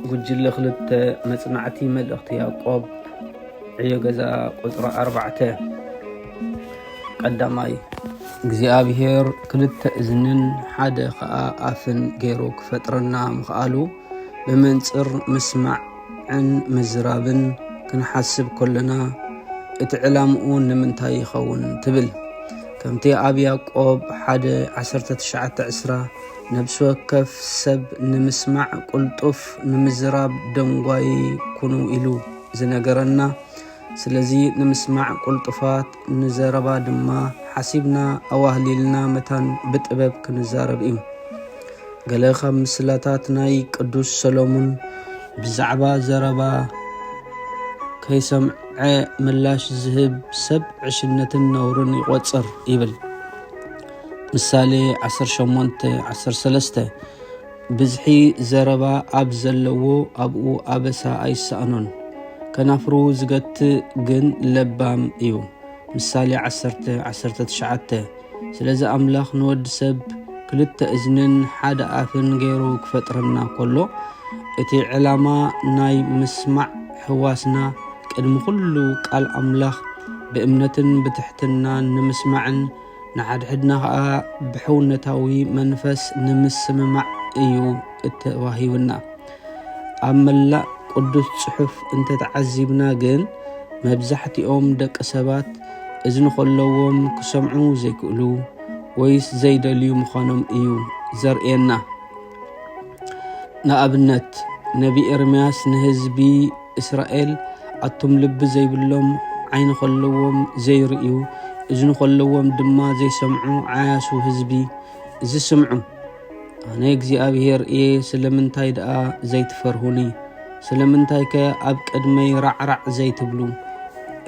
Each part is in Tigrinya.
ጉጅለ ክልተ መጽናዕቲ መልእኽቲ ያዕቆብ ዕዮ ገዛ ቁጽሪ ኣርባዕተ ቀዳማይ እግዚኣብሔር ክልተ እዝንን ሓደ ኸኣ ኣፍን ገይሩ ክፈጥረና ምኽኣሉ ብመንጽር ምስማዕ ን ምዝራብን ክንሓስብ ከሎና እቲ ዕላምኡ ንምንታይ ይኸውን ትብል ከምቲ ኣብ ያቆብ ሓደ 19 ዕስራ ነብሲ ወከፍ ሰብ ንምስማዕ ቁልጡፍ ንምዝራብ ደንጓዪ ኩኑ ኢሉ ዝነገረና ስለዚ ንምስማዕ ቁልጡፋት ንዘረባ ድማ ሓሲብና ኣዋህሊልና መታን ብጥበብ ክንዛረብ እዩ ገለ ካብ ምስላታት ናይ ቅዱስ ሰሎሙን ብዛዕባ ዘረባ ከይሰምዐ ምላሽ ዝህብ ሰብ ዕሽነትን ነውርን ይቆጽር ይብል ምሳሌ ዓሰርተ ሸሞንተ ዓሰርተ ሰለስተ ብዝሒ ዘረባ ኣብ ዘለዎ ኣብኡ ኣበሳ ኣይሰኣኖን፣ ከናፍሩ ዝገትእ ግን ለባም እዩ። ምሳሌ ዓሰርተ ዓሰርተ ትሽዓተ ስለዚ ኣምላኽ ንወዲ ሰብ ክልተ እዝንን ሓደ ኣፍን ገይሩ ክፈጥረና ከሎ እቲ ዕላማ ናይ ምስማዕ ሕዋስና ቅድሚ ኩሉ ቃል ኣምላኽ ብእምነትን ብትሕትናን ንምስማዕን ንሓድሕድና ኸኣ ብሕውነታዊ መንፈስ ንምስምማዕ እዩ እተዋሂቡና። ኣብ መላእ ቅዱስ ጽሑፍ እንተተዓዚብና ግን መብዛሕትኦም ደቂ ሰባት እዝኒ ከለዎም ክሰምዑ ዘይክእሉ ወይስ ዘይደልዩ ምዃኖም እዩ ዘርእየና። ንኣብነት ነቢ ኤርምያስ ንህዝቢ እስራኤል ኣቱም ልቢ ዘይብሎም ዓይኒ ከለዎም ዘይርእዩ እዝኒ ከለዎም ድማ ዘይሰምዑ ዓያሱ ህዝቢ እዚ ስምዑ ኣነ እግዚኣብሄር እየ ስለምንታይ ደኣ ዘይትፈርሁኒ ስለምንታይ ከ ኣብ ቅድመይ ራዕራዕ ዘይትብሉ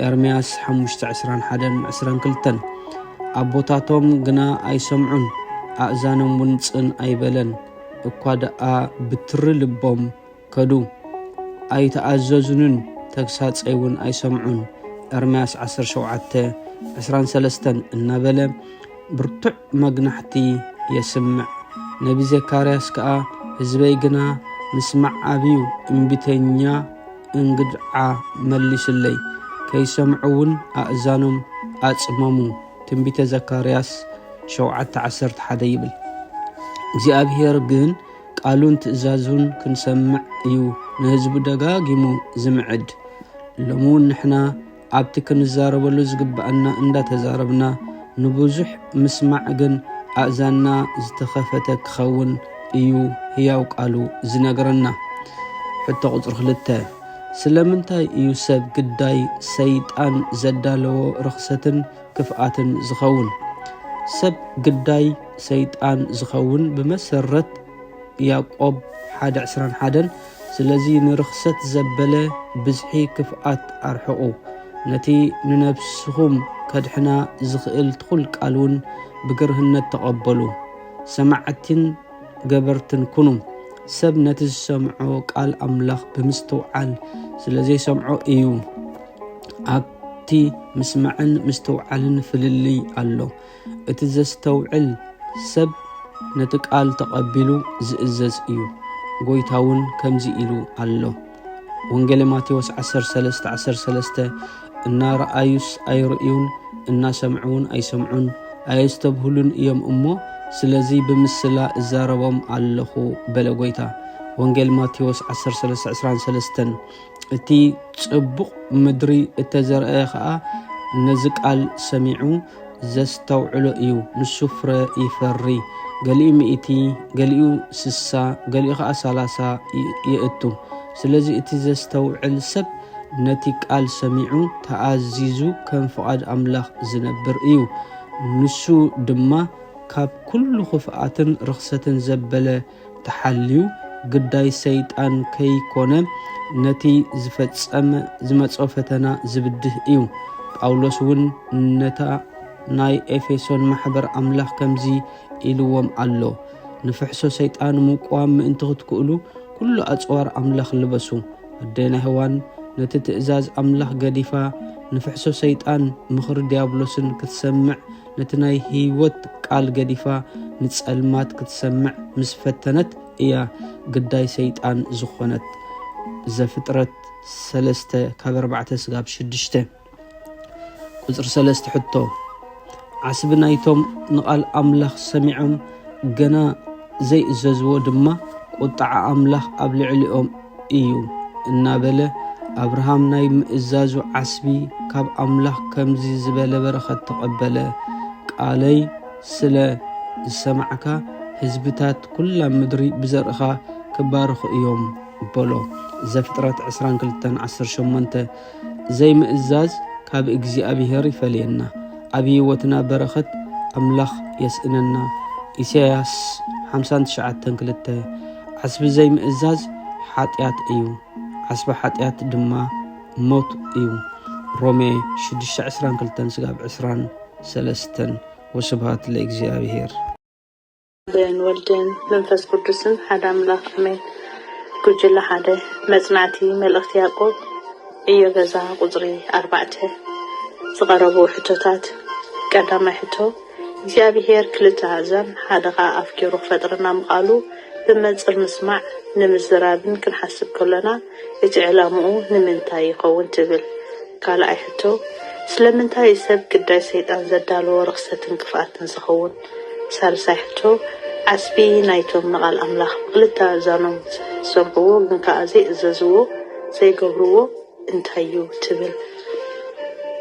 ኤርምያስ 5:21-22 ኣቦታቶም ግና ኣይሰምዑን ኣእዛኖም እውን ጽን ኣይበለን እኳ ደኣ ብትሪ ልቦም ከዱ። ኣይተኣዘዙንን ተግሳጸይ እውን ኣይሰምዑን፣ ኤርምያስ ዓሰርተ ሸውዓተ፣ ዕስራን ሰለስተን እናበለ ብርቱዕ መግናሕቲ የስምዕ። ነቢ ዘካርያስ ከኣ ህዝበይ ግና ምስማዕ ኣብዩ እምቢተኛ እንግድዓ መሊሱለይ፣ ከይሰምዑ እውን ኣእዛኖም ኣጽመሙ፣ ትንቢተ ዘካርያስ ሸውዓተ ዓሰርተ ሓደ ይብል። እግዚኣብሄር ግን ቃሉን ትእዛዙን ክንሰምዕ እዩ ንህዝቡ ደጋጊሙ ዝምዕድ። ሎሚ እውን ንሕና ኣብቲ ክንዛረበሉ ዝግብኣና እንዳተዛረብና ንብዙሕ ምስማዕ ግን ኣእዛንና ዝተኸፈተ ክኸውን እዩ ህያው ቃሉ ዝነግረና። ሕቶ ቁፅሪ ክልተ ስለምንታይ እዩ ሰብ ግዳይ ሰይጣን ዘዳለዎ ርኽሰትን ክፍኣትን ዝኸውን ሰብ ግዳይ ሰይጣን ዝኸውን ብመሰረት ያቆብ ሓደ ዕስራን ሓደን ስለዚ ንርኽሰት ዘበለ ብዝሒ ክፍኣት ኣርሕቑ ነቲ ንነብስኹም ከድሕና ዝኽእል ትኹል ቃል እውን ብግርህነት ተቐበሉ ሰማዕቲን ገበርትን ኩኑ። ሰብ ነቲ ዝሰምዖ ቃል ኣምላኽ ብምስትውዓል ስለ ዘይሰምዖ እዩ። ኣብቲ ምስማዕን ምስትውዓልን ፍልልይ ኣሎ። እቲ ዘስተውዕል ሰብ ነቲ ቃል ተቐቢሉ ዝእዘዝ እዩ። ጎይታ እውን ከምዚ ኢሉ ኣሎ። ወንጌለ ማቴዎስ 13 13 እናረኣዩስ ኣይርእዩን እናሰምዑውን ኣይሰምዑን ኣየስተብህሉን እዮም እሞ ስለዚ ብምስላ እዛረቦም ኣለኹ በለ ጎይታ ወንጌል ማቴዎስ 1323 እቲ ጽቡቕ ምድሪ እተዘርአ ኸዓ ነዚ ቃል ሰሚዑ ዘስተውዕሎ እዩ ንሱ ፍረ ይፈሪ ገሊኡ ሚእቲ ገሊኡ ስሳ ገሊኡ ከዓ ሰላሳ የእቱ ስለዚ እቲ ዘስተውዕል ሰብ ነቲ ቃል ሰሚዑ ተኣዚዙ ከም ፍቓድ ኣምላኽ ዝነብር እዩ ንሱ ድማ ካብ ኩሉ ክፍኣትን ርኽሰትን ዘበለ ተሓልዩ ግዳይ ሰይጣን ከይኮነ ነቲ ዝፈጸም ዝመጾ ፈተና ዝብድህ እዩ። ጳውሎስ እውን ነታ ናይ ኤፌሶን ማሕበር ኣምላኽ ከምዚ ኢልዎም ኣሎ፣ ንፍሕሶ ሰይጣን ምቋም ምእንቲ ክትክእሉ ኩሉ ኣጽዋር ኣምላኽ ልበሱ። ኣዴና ሄዋን ነቲ ትእዛዝ ኣምላኽ ገዲፋ ንፍሕሶ ሰይጣን ምኽሪ ዲያብሎስን ክትሰምዕ ነቲ ናይ ህይወት ቃል ገዲፋ ንጸልማት ክትሰምዕ ምስ ፈተነት እያ ግዳይ ሰይጣን ዝኾነት። ዘፍጥረት ሰለስተ ካብ ኣርባዕተ ስጋብ ሽዱሽተ ቁጽሪ ሰለስተ ሕቶ ዓስቢ ናይቶም ንቓል ኣምላኽ ሰሚዖም ገና ዘይእዘዝዎ ድማ ቁጥዓ ኣምላኽ ኣብ ልዕሊኦም እዩ እናበለ ኣብርሃም ናይ ምእዛዙ ዓስቢ ካብ ኣምላኽ ከምዚ ዝበለ በረኸት ተቐበለ ቃለይ ስለ ዝሰማዕካ ህዝብታት ኩላ ምድሪ ብዘርእኻ ክባረኹ እዮም በሎ ዘፍጥረት 2218 ዘይምእዛዝ ካብ እግዚኣብሔር ይፈለየና ኣብ ህይወትና በረኸት ኣምላኽ የስእነና ኢሳያስ 59 2 ዓስቢ ዘይምእዛዝ ሓጢኣት እዩ ዓስቢ ሓጢኣት ድማ ሞት እዩ ሮሜ 622 ስጋብ 23 ወስብሃት ለእግዚኣብሔር ብን ወልድን መንፈስ ቅዱስን ሓደ ኣምላክ ኣሜን ጉጅለ ሓደ መጽናዕቲ መልእኽቲ ያዕቆብ ዕዮ ገዛ ቁጽሪ ኣርባዕተ ዝቐረቡ ሕቶታት ቀዳማይ ሕቶ እግዚኣብሄር ክልተ ኣእዛን ሓደ ኸኣ ኣፍ ገይሩ ክፈጥረና ምኽኣሉ ብመንጽር ምስማዕ ንምዝራብን ክንሓስብ ከሎና እቲ ዕላምኡ ንምንታይ ይኸውን ትብል ካልኣይ ሕቶ ስለምንታይ እዩ ሰብ ግዳይ ሰይጣን ዘዳለዎ ርኽሰትን ክፍኣትን ዝኸውን ሳልሳይ ሕቶ፣ ዓስቢ ናይቶም ንቓል ኣምላኽ ብኽልተ ኣእዛኖም ዝሰምዕዎ ግን ከኣ ዘይእዘዝዎ፣ ዘይገብርዎ፣ እንታይ እዩ ትብል?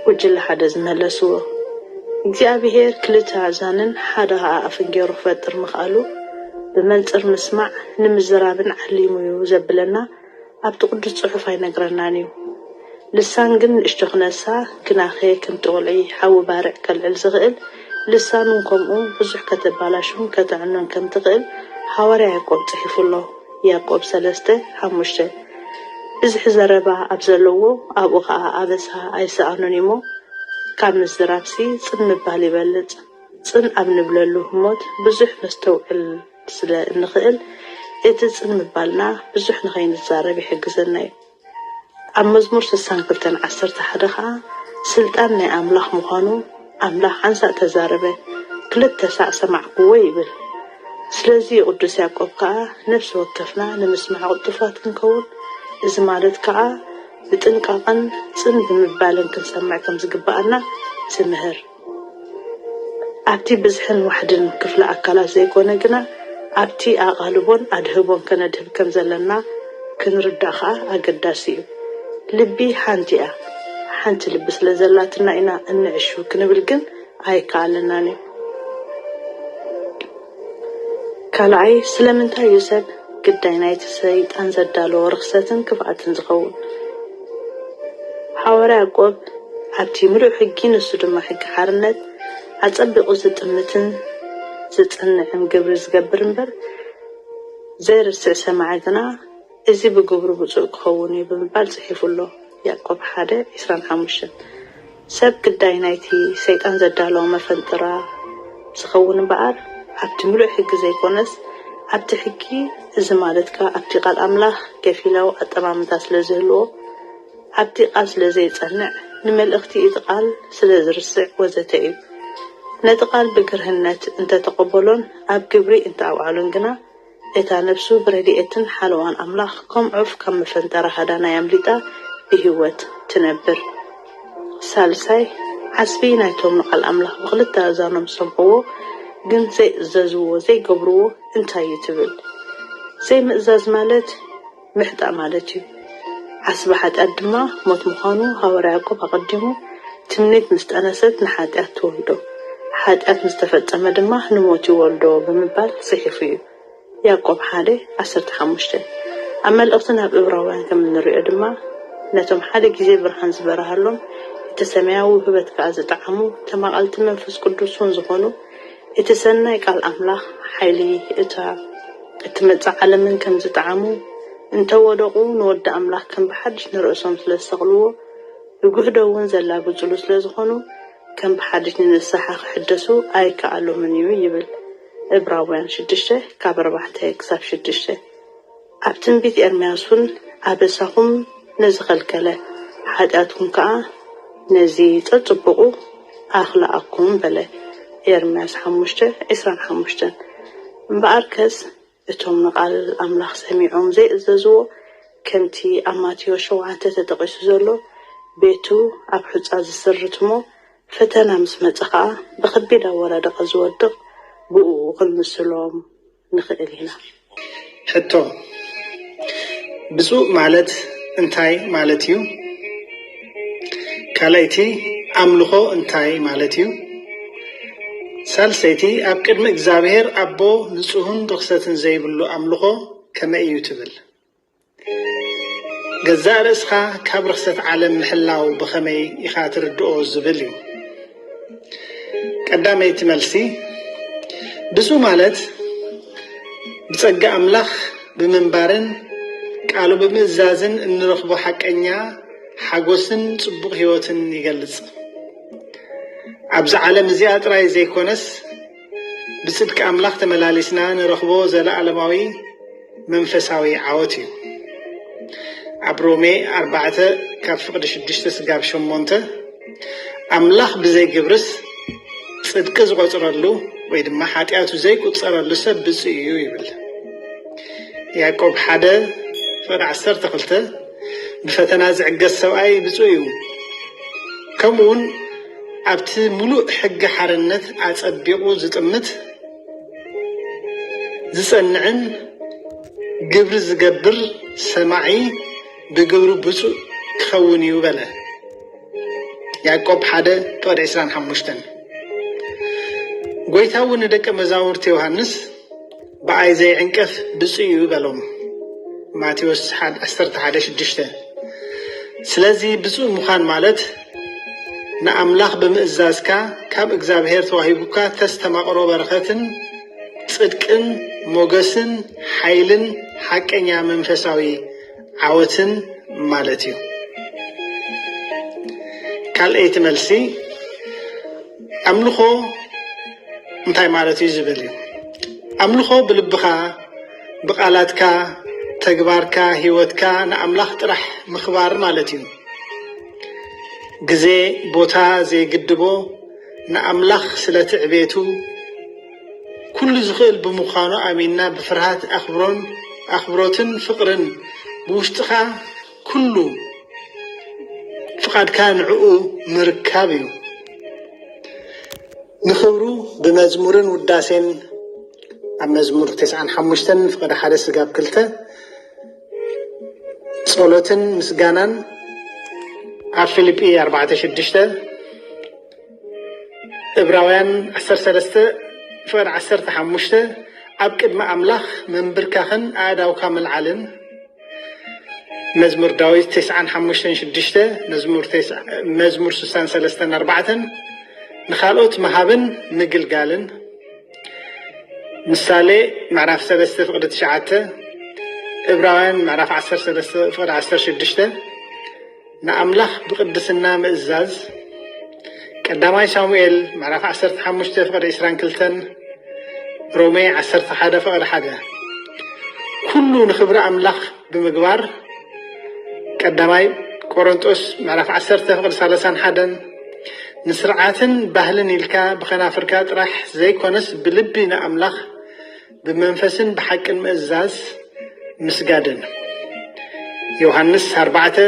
ጉጅለ ሓደ ዝመለስዎ፣ እግዚኣብሄር ክልተ ኣእዛንን ሓደ ከኣ ኣፍን ገይሩ ክፈጥር ምኽኣሉ ብመንጽር ምስማዕ ንምዝራብን ዓሊሙ እዩ ዘብለና ኣብቲ ቅዱስ ጽሑፍ ኣይነግረናን እዩ። ልሳን ግን ንእሽቶ ክነሳ ግናኸ ከምቲ ቁልዒ ሓዊ ባርዕ ከልዕል ዝኽእል ልሳን እውን ከምኡ ብዙሕ ከተባላሹን ከተዕኑን ከም ትኽእል ሃዋርያ ያእቆብ ጽሒፉ ኣሎ ያእቆብ ሰለስተ ሓሙሽተ ብዝሒ ዘረባ ኣብ ዘለዎ ኣብኡ ከኣ ኣበሳ ኣይሰኣኑን እዩሞ ካብ ምዝራብሲ ጽን ምባል ይበልጽ ጽን ኣብ ንብለሉ ህሞት ብዙሕ ነስተውዕል ስለ እንኽእል እቲ ጽን ምባልና ብዙሕ ንኸይንዛረብ ይሕግዘና እዩ። ኣብ መዝሙር ስሳን ክልተን ዓሰርተ ሓደ ኸኣ ስልጣን ናይ ኣምላኽ ምዃኑ ኣምላኽ ሓንሳእ ተዛረበ፣ ክልተ ሳዕ ሰማዕኩዎ ይብል። ስለዚ ቅዱስ ያዕቆብ ከኣ ነፍሲ ወከፍና ንምስማዕ ቅልጡፋት ክንከውን እዚ ማለት ከኣ ብጥንቃቐን ጽን ብምባልን ክንሰምዕ ከም ዝግብኣና ትምህር። ኣብቲ ብዝሕን ዋሕድን ክፍለ ኣካላት ዘይኮነ ግና ኣብቲ ኣቓልቦን ኣድህቦን ከነድህብ ከም ዘለና ክንርዳእ ከኣ ኣገዳሲ እዩ። ልቢ ሓንቲ እያ፣ ሓንቲ ልቢ ስለ ዘላትና ኢና እንዕሹ ክንብል ግን ኣይከኣለናን እዩ። ካልኣይ፣ ስለምንታይ እዩ ሰብ ግዳይ ናይቲ ሰይጣን ዘዳለዎ ርኽሰትን ክፍኣትን ዝኸውን? ሓዋርያ ያዕቆብ ኣብቲ ምሉእ ሕጊ ንሱ ድማ ሕጊ ሓርነት ኣጸቢቑ ዝጥምትን ዝጽንዕን ግብሪ ዝገብር እምበር ዘይርስዕ ሰማዒ ግና እዚ ብግብሩ ብጹእ ክኸውን እዩ ብምባል ጽሒፉ ኣሎ፣ ያእቆብ ሓደ ዕስራን ሓሙሽተን። ሰብ ግዳይ ናይቲ ሰይጣን ዘዳለዎ መፈንጥራ ዝኸውን እምበኣር ኣብቲ ምሉእ ሕጊ ዘይኰነስ ኣብቲ ሕጊ፣ እዚ ማለት ከኣ ኣብቲ ቃል ኣምላኽ ከፊላዊ ኣጠማምታ ስለ ዝህልዎ፣ ኣብቲ ቃል ስለ ዘይጸንዕ፣ ንመልእኽቲ እቲ ቃል ስለ ዝርስዕ ወዘተ እዩ። ነቲ ቃል ብግርህነት እንተ ተቐበሎን ኣብ ግብሪ እንተ ኣውዓሎን ግና፣ እታ ነብሱ ብረድኤትን ሓለዋን ኣምላኽ ከም ዑፍ ካብ መፈንጠራ ሃዳናይ ኣምሊጣ ብህይወት ትነብር። ሳልሳይ፣ ዓስቢ ናይቶም ንቓል ኣምላኽ ብኽልተ ኣእዛኖም ዝሰምዕዎ ግን ዘይእዘዝዎ፣ ዘይገብርዎ፣ እንታይ እዩ ትብል? ዘይምእዛዝ ማለት፣ ምሕጣእ ማለት እዩ። ዓስቢ ሓጢኣት ድማ ሞት ምዃኑ ሃዋርያ ያዕቆብ ኣቐዲሙ ትምኒት ምስ ጠነሰት ንሓጢኣት ትወልዶ፣ ሓጢኣት ምስ ተፈጸመ ድማ ንሞት ይወልዶ ብምባል ጽሒፉ እዩ፣ ያዕቆብ ሓደ ዓሰርተ ሓሙሽተ። ኣብ መልእኽቲ ናብ እብራውያን ከም እንርእዮ ድማ ነቶም ሓደ ግዜ ብርሃን ዝበርሃሎም እቲ ሰማያዊ ውህበት ከኣ ዝጠዓሙ ተማቐልቲ መንፈስ ቅዱስ እውን ዝኾኑ እቲ ሰናይ ቃል ኣምላኽ ሓይሊ እታ እትመጽእ ዓለምን ከም ዝጠዓሙ፣ እንተ ወደቑ ንወዲ ኣምላኽ ከም ብሓድሽ ንርእሶም ስለ ዝሰቕልዎ፣ ብግህዶ ውን ዘላግጹሉ ስለ ዝኾኑ፣ ከም ብሓድሽ ንንስሓ ክሕደሱ ኣይከኣሎምን እዩ ይብል። እብራውያን ሽዱሽተ ካብ ኣርባዕተ ክሳብ ሽዱሽተ። ኣብ ትንቢት ኤርምያስ እውን ኣበሳኹም ነዚ ኸልከለ፣ ሓጢኣትኩም ከኣ ነዚ ጸጽቡቑ ኣኽልኣኩም በለ፣ ኤርምያስ ሓሙሽተ፣ ዕስራን ሓሙሽተን። እምበኣርከስ እቶም ንቓል ኣምላኽ ሰሚዖም ዘይእዘዝዎ፣ ከምቲ ኣብ ማቴዎስ ሸውዓተ ተጠቒሱ ዘሎ፣ ቤቱ ኣብ ሑጻ ዝስርት እሞ ፈተና ምስ መጸ ኸኣ ብኸቢድ ኣወዳድቓ ዝወድቕ ብእኡ ክንምስሎም ንኽእል ኢና። ሕቶ፣ ብፁዕ ማለት እንታይ ማለት እዩ? ካልኣይቲ፣ ኣምልኾ እንታይ ማለት እዩ? ሳልሰይቲ፣ ኣብ ቅድሚ እግዚኣብሔር ኣቦ ንጹህን ርኽሰትን ዘይብሉ ኣምልኾ ከመይ እዩ ትብል? ገዛእ ርእስኻ ካብ ርኽሰት ዓለም ምሕላው ብኸመይ ኢኻ ትርድኦ ዝብል እዩ። ቀዳመይቲ መልሲ፣ ብፁዕ ማለት ብጸጋ ኣምላኽ ብምንባርን ቃሉ ብምእዛዝን እንረኽቦ ሓቀኛ ሓጎስን ጽቡቕ ሕይወትን ይገልጽ። ኣብዚ ዓለም እዚኣ ጥራይ ዘይኮነስ፣ ብጽድቂ ኣምላኽ ተመላሊስና ንረኽቦ ዘለኣለማዊ መንፈሳዊ ዓወት እዩ። ኣብ ሮሜ ኣርባዕተ ካብ ፍቕዲ ሽዱሽተ ስጋብ ሸሞንተ ኣምላኽ ብዘይ ግብርስ ጽድቂ ዝቖጽረሉ ወይ ድማ ሓጢኣቱ ዘይቁጸረሉ ሰብ ብፁዕ እዩ ይብል። ያዕቆብ ሓደ ፍቕዲ ዓሰርተ ክልተ ብፈተና ዝዕገስ ሰብኣይ ብፁዕ እዩ ከምኡውን ኣብቲ ምሉእ ሕጊ ሓርነት ኣጸቢቑ ዝጥምት፣ ዝጸንዕን ግብሪ ዝገብር ሰማዒ ብግብሪ ብፁእ ክኸውን እዩ በለ። ያእቆብ ሓደ ፍቕዲ ዕስራን ሓሙሽተን ጎይታ እውን ንደቀ መዛሙርቲ ዮሃንስ ብኣይ ዘይዕንቀፍ ብፁዕ እዩ በሎም። ማቴዎስ ዓሰርተ ሓደ ሽዱሽተ ስለዚ ብፁዕ ምዃን ማለት ንኣምላኽ ብምእዛዝካ ካብ እግዚኣብሔር ተዋሂቡካ ተስተማቕሮ በረኸትን ጽድቅን ሞገስን ሓይልን ሓቀኛ መንፈሳዊ ዓወትን ማለት እዩ። ካልኣይቲ መልሲ ኣምልኾ እንታይ ማለት እዩ ዝብል እዩ። ኣምልኾ ብልብኻ፣ ብቃላትካ፣ ተግባርካ፣ ህይወትካ ንኣምላኽ ጥራሕ ምኽባር ማለት እዩ። ግዜ ቦታ ዘይግድቦ ንኣምላኽ ስለቲ ዕቤቱ ኩሉ ዝኽእል ብምዃኑ ኣሚንና ብፍርሃት ኣኽብሮን ኣኽብሮትን ፍቕርን ብውሽጥኻ ኩሉ ፍቓድካ ንዕኡ ምርካብ እዩ። ንኽብሩ ብመዝሙርን ውዳሴን ኣብ መዝሙር ተስዓን ሓሙሽተን ፍቐደ ሓደ ስጋብ ክልተ ጸሎትን ምስጋናን ኣብ ፊልጲ ኣርባዕተ ሽዱሽተ እብራውያን ዓሰርተ ሰለስተ ፍቕድ ዓሰርተ ሓሙሽተ ኣብ ቅድሚ ኣምላኽ ምንብርካኽን ኣእዳውካ ምልዓልን መዝሙር ዳዊት ተስዓን ሓሙሽተን ሽዱሽተ መዝሙር ስሳን ሰለስተን ኣርባዕተን ንካልኦት ምሃብን ምግልጋልን ምሳሌ ምዕራፍ ሰለስተ ፍቕዲ ትሽዓተ እብራውያን ምዕራፍ ዓሰርተ ሰለስተ ፍቕዲ ዓሰርተ ሽዱሽተ ንኣምላኽ ብቕድስና ምእዛዝ፣ ቀዳማይ ሳሙኤል ምዕራፍ ዓሰርተ ሓሙሽተ ፍቕዲ ዕስራን ክልተን፣ ሮሜ ዓሰርተ ሓደ ፍቕዲ ሓደ። ኩሉ ንኽብሪ ኣምላኽ ብምግባር፣ ቀዳማይ ቆሮንጦስ ምዕራፍ ዓሰርተ ፍቕዲ ሳላሳን ሓደን፣ ንስርዓትን ባህልን ኢልካ ብኸናፍርካ ጥራሕ ዘይኮነስ ብልቢ ንኣምላኽ፣ ብመንፈስን ብሓቅን ምእዛዝ ምስጋድን ዮሃንስ ኣርባዕተ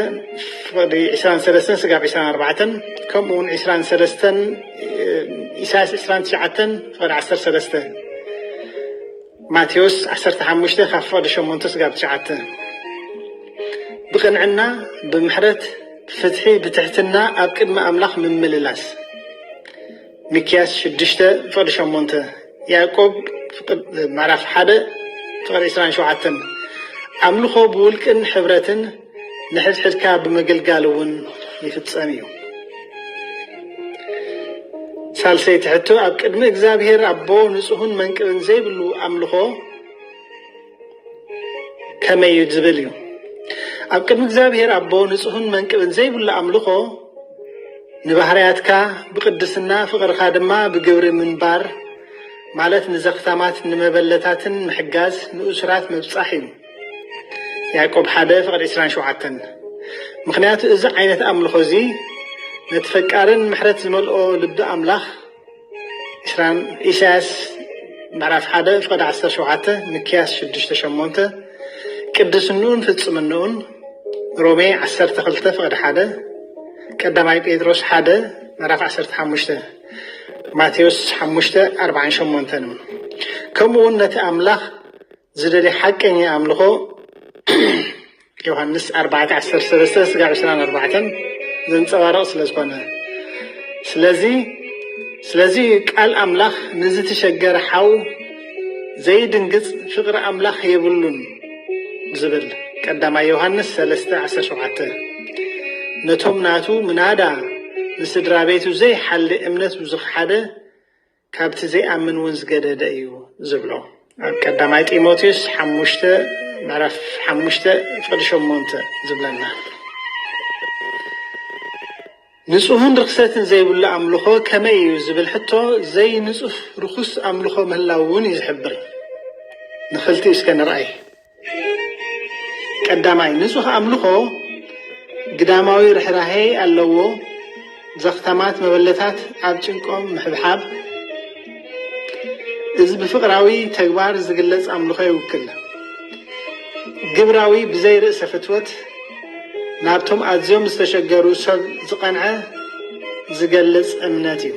ፍቕዲ ዕስራን ሰለስተን ስጋብ ዕስራን ኣርባዕተን ከምኡ እውን ዕስራን ሰለስተን ኢሳያስ ዕስራን ትሽዓተን ፍቕዲ ዓሰርተ ሰለስተ ማቴዎስ ዓሰርተ ሓሙሽተ ካብ ፍቕዲ ሸሞንተ ስጋብ ትሽዓተ ብቕንዕና ብምሕረት ፍትሒ ብትሕትና ኣብ ቅድሚ ኣምላኽ ምምልላስ ሚክያስ ሽዱሽተ ፍቕዲ ሸሞንተ ያእቆብ ምዕራፍ ሓደ ፍቕዲ ዕስራን ሸውዓተን ኣምልኾ ብውልቅን ሕብረትን ንሕድሕድካ ብምግልጋል እውን ይፍጸም እዩ። ሳልሰይቲ ሕቶ ኣብ ቅድሚ እግዚኣብሔር ኣቦ ንጹህን መንቅብን ዘይብሉ ኣምልኾ ከመይ እዩ ዝብል እዩ ኣብ ቅድሚ እግዚኣብሔር ኣቦ ንጹህን መንቅብን ዘይብሉ ኣምልኾ ንባህርያትካ ብቅድስና ፍቅርካ ድማ ብግብሪ ምንባር ማለት ንዘኽታማት ንመበለታትን ምሕጋዝ ንእሱራት ምብጻሕ እዩ ያዕቆብ ሓደ ፍቅድ 27 ምክንያቱ እዚ ዓይነት ኣምልኾ እዚ ነቲ ፈቃርን ምሕረት ዝመልኦ ልቢ ኣምላኽ ትራምፕ ኢሳያስ ምዕራፍ ሓደ ፍቕዲ ዓሰርተ ሸውዓተ ምክያስ ሽዱሽተ ሸሞንተ ቅድስንኡን ፍጽምንኡን ሮሜ ዓሰርተ ክልተ ፍቕዲ ሓደ ቀዳማይ ጴጥሮስ ሓደ ምዕራፍ ዓሰርተ ሓሙሽተ ማቴዎስ ሓሙሽተ ኣርባዓን ሸሞንተን ከምኡውን ነቲ ኣምላኽ ዝደልይ ሓቀኛ ኣምልኾ ዮሃንስ ኣርባዕተ ዓሰርተ ሰለስተ ስጋዕ ዕስራን ኣርባዕተን ዘንጸባርቕ ስለ ዝኾነ ስለዚ ስለዚ ቃል ኣምላኽ ንዝተሸገረ ሓው ዘይድንግጽ ፍቕሪ ኣምላኽ የብሉን ዝብል ቀዳማይ ዮሃንስ 3:17 ነቶም ናቱ ምናዳ ንስድራ ቤቱ ዘይሓሊ እምነት ብዝኸሓደ ካብቲ ዘይኣምን እውን ዝገደደ እዩ ዝብሎ ኣብ ቀዳማይ ጢሞቴዎስ ሓሙሽተ ምዕራፍ ሓሙሽተ ፍቕዲ ሸሞንተ ዝብለና ንጹህን ርኽሰትን ዘይብሉ ኣምልኾ ከመይ እዩ ዝብል ሕቶ ዘይንጹህ ርኹስ ኣምልኾ ምህላው እውን እዩ ዝሕብር ንኽልቲኡ እስከ ንርኣይ ቀዳማይ፣ ንጹህ ኣምልኾ ግዳማዊ ርሕራሔ ኣለዎ፣ ዘኽታማት መበለታት ኣብ ጭንቆም ምሕብሓብ፣ እዚ ብፍቕራዊ ተግባር ዝግለጽ ኣምልኾ ይውክል። ግብራዊ ብዘይ ርእሰ ፍትወት ናብቶም ኣዝዮም ዝተሸገሩ ሰብ ዝቐንዐ ዝገልጽ እምነት እዩ።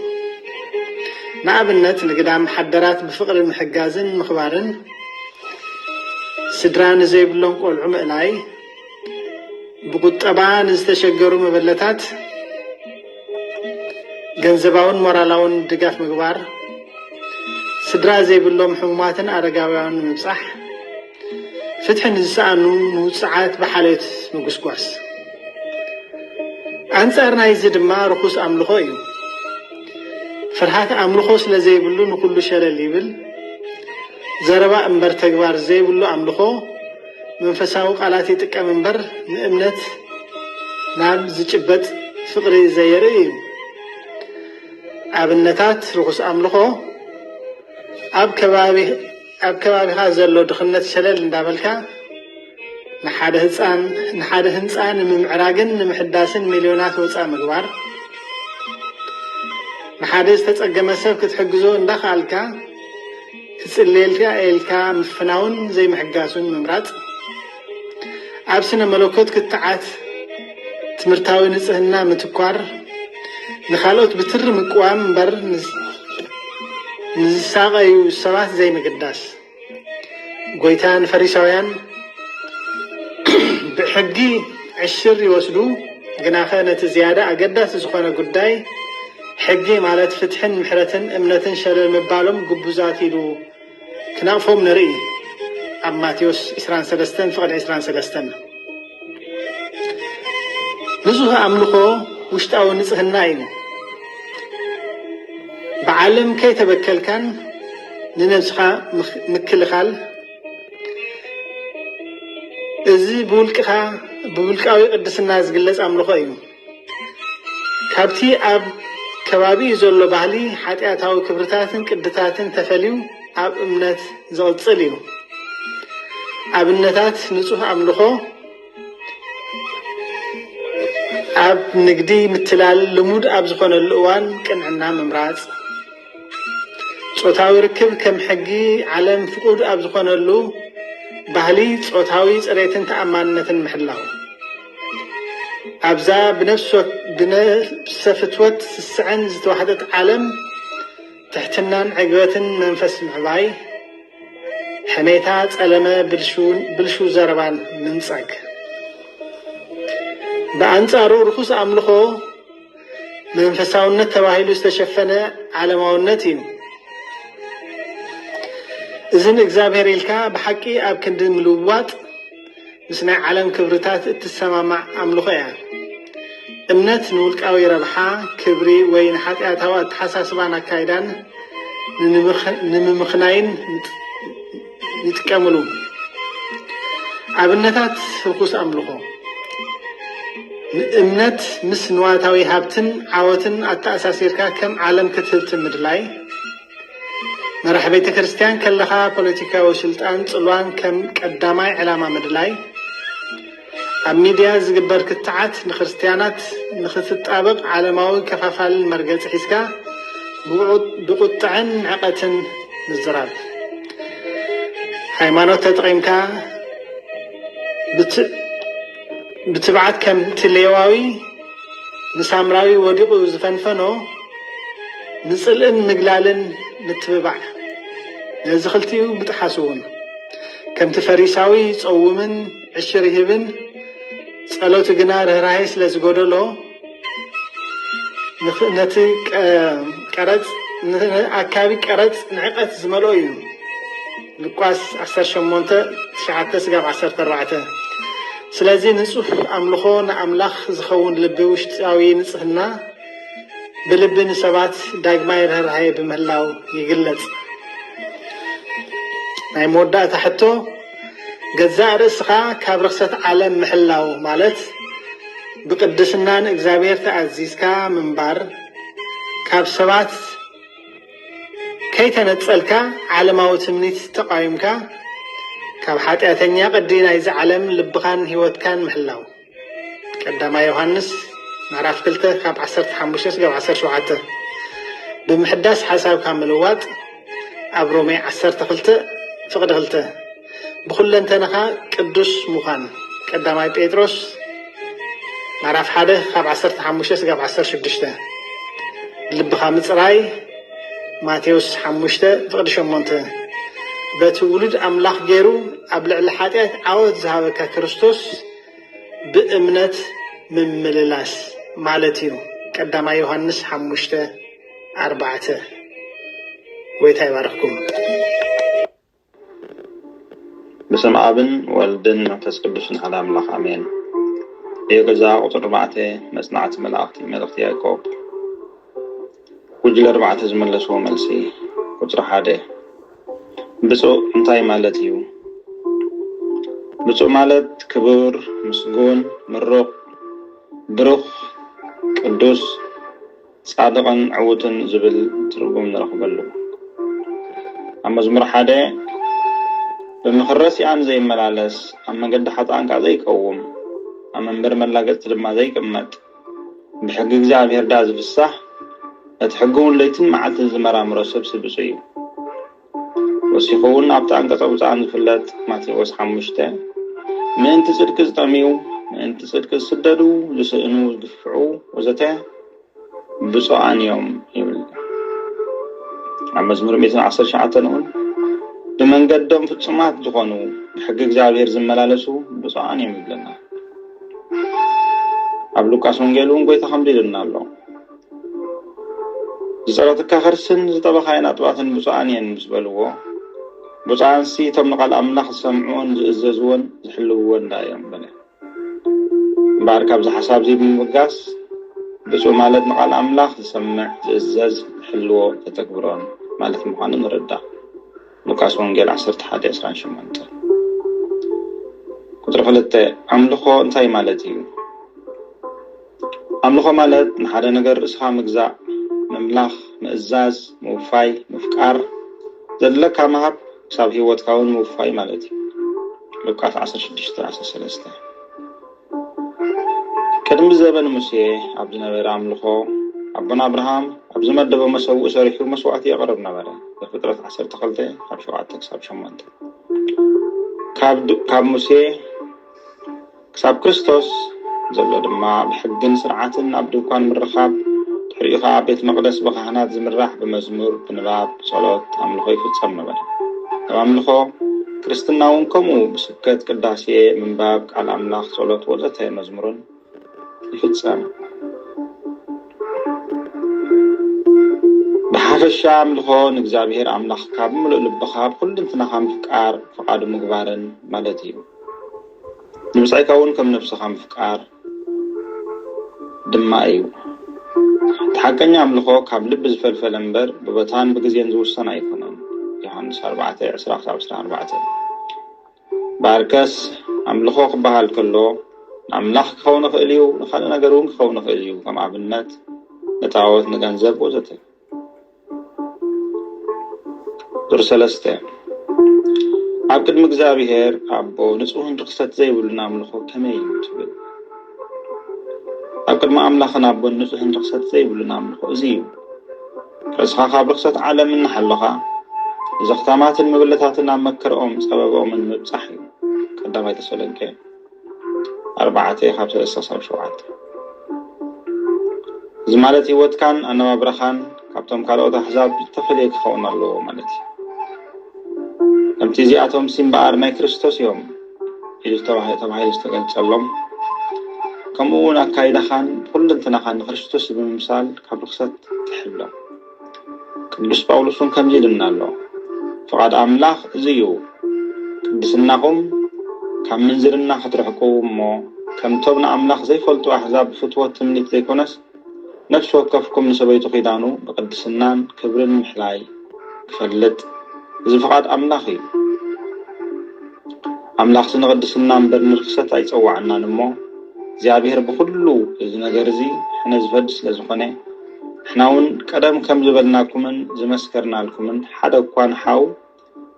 ንኣብነት ንግዳም ሓደራት ብፍቕሪ ምሕጋዝን ምኽባርን፣ ስድራ ንዘይብሎም ቆልዑ ምእላይ፣ ብቁጠባ ንዝተሸገሩ መበለታት ገንዘባውን ሞራላውን ድጋፍ ምግባር፣ ስድራ ዘይብሎም ሕሙማትን ኣረጋውያን ንምብጻሕ፣ ፍትሒ ንዝሰኣኑ ንውጽዓት ብሓልዮት ምጉስጓስ። ኣንጻር ናይዚ ድማ ርኹስ ኣምልኾ እዩ። ፍርሃት ኣምልኾ ስለ ዘይብሉ ንኹሉ ሸለል ይብል። ዘረባ እምበር ተግባር ዘይብሉ ኣምልኾ መንፈሳዊ ቃላት ይጥቀም እምበር ንእምነት ናብ ዝጭበጥ ፍቕሪ ዘየርኢ እዩ። ኣብነታት ርኹስ ኣምልኾ ኣብ ከባቢ ኣብ ከባቢኻ ዘሎ ድኽነት ሸለል እንዳበልካ ንሓደ ህፃን ንሓደ ህንፃ ንምምዕራግን ንምሕዳስን ሚልዮናት ወፃእ ምግባር ንሓደ ዝተፀገመ ሰብ ክትሕግዞ እንዳኸኣልካ ትፅልየልካ ኢልካ ምፍናውን ዘይምሕጋሱን ምምራፅ ኣብ ስነ መለኮት ክትዓት ትምህርታዊ ንጽህና ምትኳር ንኻልኦት ብትሪ ምቅዋም እምበር ንዝሳቐዩ ሰባት ዘይምግዳስ ጎይታ ንፈሪሳውያን ብሕጊ ዕሽር ይወስዱ ግናኸ ነቲ ዝያዳ ኣገዳሲ ዝኾነ ጉዳይ ሕጊ ማለት ፍትሕን ምሕረትን እምነትን ሸለል ምባሎም ግቡዛት ኢሉ ክናፎም ንርኢ ኣብ ማቴዎስ ዕስራን ሰለስተን ፍቕድ ዕስራን ሰለስተን ብዙህ ኣምልኾ ውሽጣዊ ንጽህና እዩ ብዓለም ከይተበከልካን ንነብስኻ ምክልኻል እዚ ብውልቅኻ ብውልቃዊ ቅድስና ዝግለጽ ኣምልኾ እዩ። ካብቲ ኣብ ከባቢኡ ዘሎ ባህሊ ሓጢኣታዊ ክብርታትን ቅድታትን ተፈልዩ ኣብ እምነት ዝቕጽል እዩ። ኣብነታት ንጹህ ኣምልኾ ኣብ ንግዲ ምትላል ልሙድ ኣብ ዝኾነሉ እዋን ቅንዕና ምምራጽ፣ ጾታዊ ርክብ ከም ሕጊ ዓለም ፍቑድ ኣብ ዝኾነሉ ባህሊ ጾታዊ ጽሬትን ተኣማንነትን ምሕላው ኣብዛ ብነፍሰ ፍትወት ስስዐን ዝተዋሕጠት ዓለም ትሕትናን ዕግበትን መንፈስ ምዕባይ፣ ሕሜታ፣ ጸለመ፣ ብልሹው ዘረባን ምንጻግ። ብኣንጻሩ ርኹስ ኣምልኾ፣ መንፈሳውነት ተባሂሉ ዝተሸፈነ ዓለማውነት እዩ። እዚ ንእግዚኣብሔር ኢልካ ብሓቂ ኣብ ክንዲ ምልዋጥ ምስ ናይ ዓለም ክብርታት እትሰማማዕ ኣምልኾ እያ። እምነት ንውልቃዊ ረብሓ፣ ክብሪ ወይ ንሓጢኣታዊ ኣተሓሳስባን ኣካይዳን ንምምኽናይን ይጥቀምሉ። ኣብነታት ርኩስ ኣምልኾ ንእምነት ምስ ንዋታዊ ሃብትን ዓወትን ኣተኣሳሲርካ ከም ዓለም ክትህብቲ ምድላይ፣ መራሕ ቤተ ክርስቲያን ከለኻ ፖለቲካዊ ስልጣን ጽሏን ከም ቀዳማይ ዕላማ ምድላይ፣ ኣብ ሚድያ ዝግበር ክትዓት ንክርስትያናት ንክትጣበቕ ዓለማዊ ከፋፋልን መርገጺ ሒዝካ ብቑጥዐን ንዕቐትን ምዝራብ ሃይማኖት ተጠቒምካ ብትብዓት ከምቲ ሌዋዊ ንሳምራዊ ወዲቑ ዝፈንፈኖ ንጽልእን ምግላልን ምትብባዕ ነዚ ክልቲኡ ምጥሓስ እውን ከምቲ ፈሪሳዊ ጸውምን ዕሽር ይህብን ጸሎቱ ግና ርህራሄ ስለ ዝጎደሎ ነቲ ቀረጽ ኣካቢ ቀረጽ ንዕቀት ዝመልኦ እዩ ሉቃስ 18 9 ስጋብ 14 ስለዚ ንጹህ ኣምልኾ ንኣምላኽ ዝኸውን ልቢ ውሽጣዊ ንጽህና ብልቢ ንሰባት ዳግማይ ርህራሄ ብምህላው ይግለጽ። ናይ መወዳእታ ሕቶ ገዛእ ርእስኻ ካብ ርኽሰት ዓለም ምሕላው ማለት ብቅድስና ንእግዚኣብሔር ተኣዚዝካ ምንባር ካብ ሰባት ከይተነጸልካ ዓለማዊ ትምኒት ተቓዊምካ ካብ ሓጢኣተኛ ቅዲ ናይዚ ዓለም ልብኻን ሕይወትካን ምሕላው ቀዳማይ ዮሃንስ ምዕራፍ ክልተ ካብ ዓሰርተ ሓሙሽተ ስጋብ ዓሰርተ ሸውዓተ ብምሕዳስ ሓሳብካ ምልዋጥ ኣብ ሮሜ ዓሰርተ ክልተ ፍቕዲ ክልተ ብኩለንተናኻ ቅዱስ ምዃን ቀዳማይ ጴጥሮስ ምዕራፍ ሓደ ካብ ዓሰርተ ሓሙሽተ ስጋብ ዓሰርተ ሽዱሽተ ልብኻ ምፅራይ ማቴዎስ ሓሙሽተ ፍቕዲ ሸሞንተ በቲ ውሉድ ኣምላኽ ገይሩ ኣብ ልዕሊ ሓጢኣት ዓወት ዝሃበካ ክርስቶስ ብእምነት ምምልላስ ማለት እዩ ቀዳማይ ዮሃንስ ሓሙሽተ ኣርባዕተ ጎይታ ይባርኽኩም። ብስም ኣብን ወልድን መንፈስ ቅዱስን ሓደ ኣምላኽ ኣሜን። የገዛ ቁፅሪ ኣርባዕተ መጽናዕቲ መላእኽቲ መልእኽቲ ያዕቆብ ጉጅለ ኣርባዕተ ዝመለስዎ መልሲ ቁፅሪ ሓደ ብፁዕ እንታይ ማለት እዩ? ብፁዕ ማለት ክቡር፣ ምስጉን፣ ምሩቕ፣ ብሩኽ፣ ቅዱስ፣ ፃድቕን ዕዉትን ዝብል ትርጉም ንረኽበሉ። ኣብ መዝሙር ሓደ ብምኽሪ ረሲኣን ዘይመላለስ፣ ኣብ መንገዲ ሓጥኣን ከዓ ዘይቀውም፣ ኣብ መንበሪ መላገፅቲ ድማ ዘይቅመጥ፣ ብሕጊ እግዚኣብሔር ድኣ ዝፍሳህ ነቲ ሕጊ እውን ለይትን መዓልትን ዝመራምሮ ሰብሲ ብፁዕ እዩ። ወሲኹ እውን ኣብቲ ኣንቀጸ ብፁዓን ዝፍለጥ ማቴዎስ ሓሙሽተ ምእንቲ ጽድቂ ዝጠምዩ፣ ምእንቲ ጽድቂ ዝስደዱ፣ ዝስእኑ፣ ዝግፍዑ ወዘተ ብፁዓን እዮም ይብል። ኣብ መዝሙር ሚእትን ዓሰርተ ሸውዓተን እውን ብመንገዶም ፍጹማት ዝኾኑ ብሕጊ እግዚኣብሔር ዝመላለሱ ብፁዓን እዮም ይብለና። ኣብ ሉቃስ ወንጌል እውን ጎይታ ከምዚ ኢሉና ኣሎ ዝጸረትካ ከርስን ዝጠበኻየን ኣጥባትን ብፁዓን እየን ምስ በልዎ ብፁዓንሲ እቶም ንቓል ኣምላኽ ዝሰምዕዎን ዝእዘዝዎን ዝሕልውዎን ዳ እዮም በለ እምበኣር ካብዚ ሓሳብ እዚ ብምብጋስ ብፁዕ ማለት ንቓል ኣምላኽ ዝሰምዕ ዝእዘዝ ዝሕልዎ ተተግብሮን ማለት ምዃኑ ንርዳእ ሉቃስ ወንጌል ዓሰርተ ሓደ ዕስራን ሸሞንተን ቁፅሪ ክልተ ኣምልኾ እንታይ ማለት እዩ? ኣምልኾ ማለት ንሓደ ነገር ርእስኻ ምግዛእ፣ ምምላኽ፣ ምእዛዝ፣ ምውፋይ፣ ምፍቃር፣ ዘድለካ ምሃብ ክሳብ ህይወትካ እውን ምውፋይ ማለት እዩ። ሉቃስ ዓሰርተ ሽዱሽተ ዓሰርተ ሰለስተ ቅድሚ ዘበን ሙሴ ኣብ ዝነበረ ኣምልኾ፣ ኣቦና ኣብርሃም ኣብ ዝመደቦ መሰውኢ ሰሪሑ መስዋእቲ የቕርብ ነበረ፣ ዘፍጥረት ዓሰርተ ክልተ ካብ ሸውዓተ ክሳብ ሸሞንተ። ካብ ካብ ሙሴ ክሳብ ክርስቶስ ዘሎ ድማ ብሕግን ስርዓትን ኣብ ድኳን ምርኻብ፣ ድሕሪኡ ከኣ ኣብ ቤት መቕደስ ብካህናት ዝምራሕ ብመዝሙር፣ ብንባብ፣ ብጸሎት፣ ኣምልኾ ይፍጸም ነበረ። ኣብ ኣምልኾ ክርስትና እውን ከምኡ ስብከት፣ ቅዳሴ፣ ምንባብ ቃል ኣምላኽ፣ ጸሎት ወዘተ መዝሙርን ይፍጸም። ብሓፈሻ ኣምልኾ ንእግዚኣብሔር ኣምላኽ ካብ ምሉእ ልብኻ ብኩልንትናኻ ምፍቃር፣ ፍቓዱ ምግባርን ማለት እዩ። ንብጻይካውን ከም ነብስኻ ምፍቃር። ድማ እዩ። እቲ ሓቀኛ ኣምልኾ ካብ ልቢ ዝፈልፈለ እምበር ብቦታን ብግዜን ዝውሰን ኣይኮነን፣ ዮሃንስ ኣርባዕተ፣ ዕስራ ክሳብ ዕስራን ኣርባዕተን። እምበኣርከስ ኣምልኾ ክበሃል ከሎ ንኣምላኽ ክኸውን ይኽእል እዩ፣ ንኻልእ ነገር እውን ክኸውን ይኽእል እዩ፣ ከም ኣብነት ንጣኦት፣ ንገንዘብ ወዘተ። ቁጽሪ ሰለስተ፣ ኣብ ቅድሚ እግዚኣብሔር ኣቦ ንጹህን ርኽሰት ዘይብሉን ኣምልኾ ከመይ እዩ ትብል? ኣብ ቅድሚ ኣምላኽን ኣቦን ንጹህን ርኽሰት ዘይብሉን ኣምልኾ እዚ እዩ፣ ርእስኻ ካብ ርኽሰት ዓለም እናሓሎኻ ንዘኽታማትን መበለታትን ኣብ መከርኦም ጸበብኦምን ምብጻሕ እዩ። ቀዳማይ ተሰሎንቄ። ኣርባዕተ ካብ ሰለስተ ክሳብ ሸውዓተ እዚ ማለት ህይወትካን ኣነባብራኻን ካብቶም ካልኦት ኣሕዛብ ዝተፈለየ ክኸውን ኣለዎ ማለት እዩ ከምቲ እዚኣቶም ሲ እምበኣር ናይ ክርስቶስ እዮም ኢሉ ተባሂሉ ዝተገልጸሎም ከምኡ እውን ኣካይዳኻን ኩልንትናኻን ንክርስቶስ ብምምሳል ካብ ርክሰት ትሕሎ ቅዱስ ጳውሎስውን ከምዚ ኢሉና ኣሎ ፍቓድ ኣምላኽ እዚ እዩ ቅድስናኹም ካብ ምንዝርና ክትርሕቁ እሞ ከምቶም ንኣምላኽ ዘይፈልጡ ኣሕዛብ ብፍትወት ትምኒት ዘይኮነስ ነፍሲ ወከፍኩም ንሰበይቱ ኪዳኑ ብቅድስናን ክብርን ምሕላይ ክፈልጥ እዚ ፍቓድ ኣምላኽ እዩ ኣምላኽሲ ንቅድስና እምበር ንርክሰት ኣይጸዋዓናን እሞ እግዚኣብሔር ብኹሉ እዚ ነገር እዚ ሕነ ዝፈዲ ስለ ዝኾነ ንሕና እውን ቀደም ከም ዝበልናኩምን ዝመስከርናልኩምን ሓደ እኳ ንሓው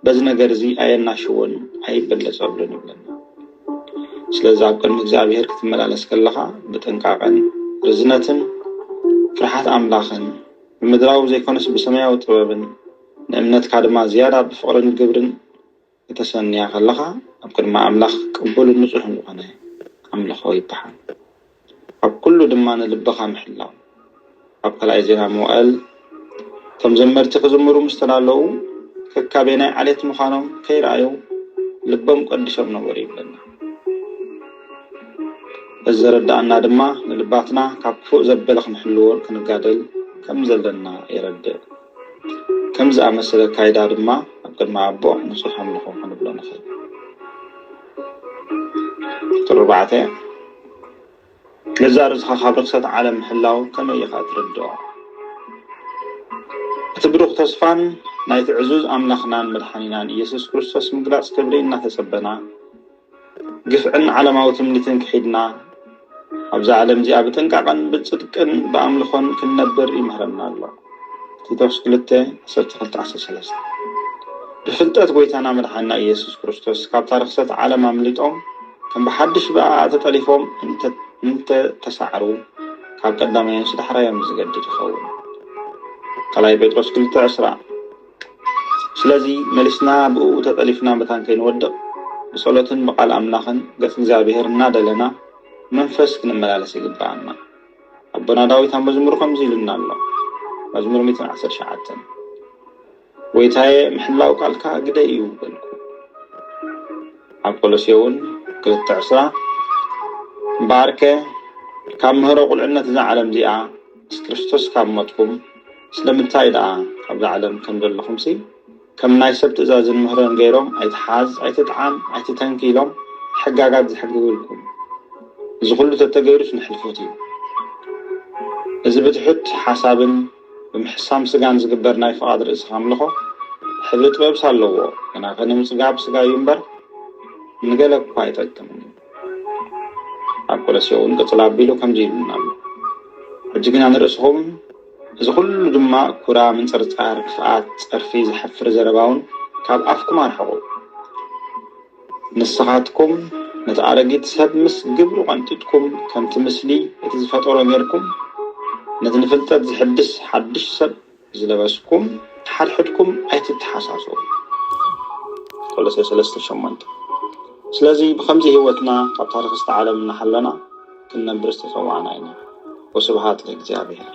በዚ ነገር እዚ ኣየናሽዎን ኣይበለጸሉን ይብለና። ስለዚ ኣብ ቅድሚ እግዚኣብሔር ክትመላለስ ከለኻ ብጥንቃቐን ርዝነትን ፍርሓት ኣምላኽን ብምድራዊ ዘይኮነስ ብሰማያዊ ጥበብን ንእምነትካ ድማ ዝያዳ ብፍቕርን ግብርን ከተሰንያ ከለኻ ኣብ ቅድሚ ኣምላኽ ቅቡልን ንጹሕን ዝኾነ ኣምልኾ ይበሃል። ኣብ ኩሉ ድማ ንልብኻ ምሕላው። ኣብ ካልኣይ ዜና መዋእል እቶም ዘመርቲ ክዝምሩ ምስ ተዳለዉ ከካበየናይ ዓሌት ምዃኖም ከይረኣዩ ልቦም ቀዲሶም ነበሩ ይብለና። እዚ ዘረድኣና ድማ ንልባትና ካብ ክፉእ ዘበለ ክንሕልዎ ክንጋደል ከም ዘለና የረድእ። ከምዚ ዝኣመሰለ ካይዳ ድማ ኣብ ቅድሚ ኣቦ ንጹሕ ኣምልኾ ክንብሎ ንኽእል። ቁጽሪ ኣርባዕተ፣ ገዛእ ርእስኻ ካብ ርኽሰት ዓለም ምሕላው ከመይ ኢኻ እትርድኦ? እቲ ብሩኽ ተስፋን ናይቲ ዕዙዝ ኣምላኽናን መድሓኒናን ኢየሱስ ክርስቶስ ምግላጽ ክብሪ እናተጸበና፣ ግፍዕን ዓለማዊ ትምኒትን ክሒድና ኣብዛ ዓለም እዚኣ ብጥንቃቐን ብጽድቅን ብኣምልኾን ክንነብር ይምህረና ኣሎ። ቲቶስ ክልተ ዓሰርተ ክልተ ዓሰርተ ሰለስተ ብፍልጠት ጐይታና መድሓና ኢየሱስ ክርስቶስ ካብታ ርኽሰት ዓለም ኣምሊጦም ከም ብሓድሽ ብኣኣ ተጠሊፎም እንተ ተሳዕሩ ካብ ቀዳማዮንስ ዳሕራዮም ዝገድድ ይኸውን። ካልኣይ ጴጥሮስ ክልተ ዕስራ ስለዚ መሊስና ብእኡ ተጠሊፍና መታን ከይንወድቕ ብጸሎትን ብቃል ኣምላኽን ገጽ እግዚኣብሔር እናደለና ብመንፈስ ክንመላለስ ይግበኣና። ኣቦና ዳዊት ኣብ መዝሙሩ ከምዚ ኢሉና ኣሎ መዝሙር ሚእትን ዓሰርተ ትሽዓተን ጎይታየ ምሕላው ቃልካ ግደ እዩ በልኩ። ኣብ ቆሎሴውን ክልተ ዕስራ እምበኣርከ ካብ ምህሮ ቁልዕነት እዛ ዓለም እዚኣ ምስ ክርስቶስ ካብ ሞትኩም ስለምንታይ ደኣ ካብዛ ዓለም ከም ዘለኹምሲ ከም ናይ ሰብ ትእዛዝን ምህሮን ገይሮም ኣይትሓዝ ኣይትጥዓም ኣይትተንኪ ኢሎም ሕጋጋት ዝሕግግልኩም እዚ ኩሉ ተተገይሩስ ንሕልፎት እዩ እዚ ብትሑት ሓሳብን ብምሕሳም ስጋን ዝግበር ናይ ፍቓድ ርእስኻ ኣምልኾ ሕብሪ ጥበብስ ኣለዎ ግናኸ ንምጽጋብ ስጋ እዩ እምበር ንገለ እኳ ኣይጠቅምን እዩ ኣብ ቆለስዮ እውን ቅፅል ኣቢሉ ከምዚ ይብልና ኣሎ ሕጂ ግና ንርእስኹም እዚ ኩሉ ድማ ኩራ ምንፅርፃር ክፍኣት ፀርፊ ዘሕፍር ዘረባ እውን ካብ ኣፍኩም ኣርሕቑ ንስኻትኩም ነቲ ኣረጊት ሰብ ምስ ግብሩ ቀንጢጥኩም ከምቲ ምስሊ እቲ ዝፈጠሮ ጌርኩም ነቲ ንፍልጠት ዝሕድስ ሓድሽ ሰብ ዝለበስኩም ሓድሕድኩም ኣይትተሓሳሰቡ ቆሎሴ ሰለስተ ሸሞንተ ስለዚ ብከምዚ ህይወትና ካብ ታሪክ ዝተዓለም እናሃለና ክንነብር ዝተጸዋዕና ኢና ወስብሃት ለእግዚኣብሔር።